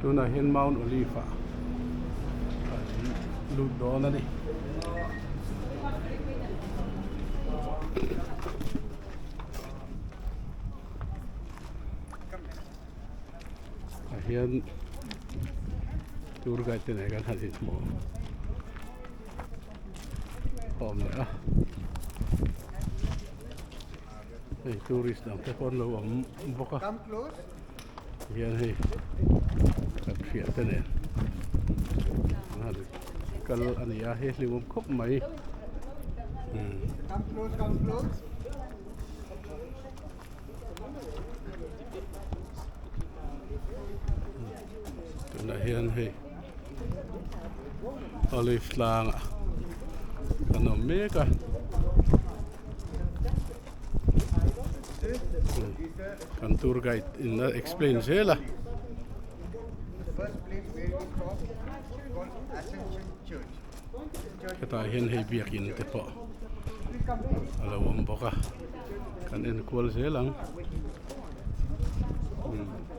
tunah hian mount olive ah an lut dawn a ni ah hian tour guide te nen kan han inhmu khawm leh a. hei tourist dang te pawh an lo awm bawk a tihian hei kan hriat te nen kal a ni a he hlim awm khawp mai umm tunah hian hei olive tlangah kan awm mek a kan tour guide in a explain zel a hetah hian hei biakin te pawh a lo awm bawk a kan enkual zel ang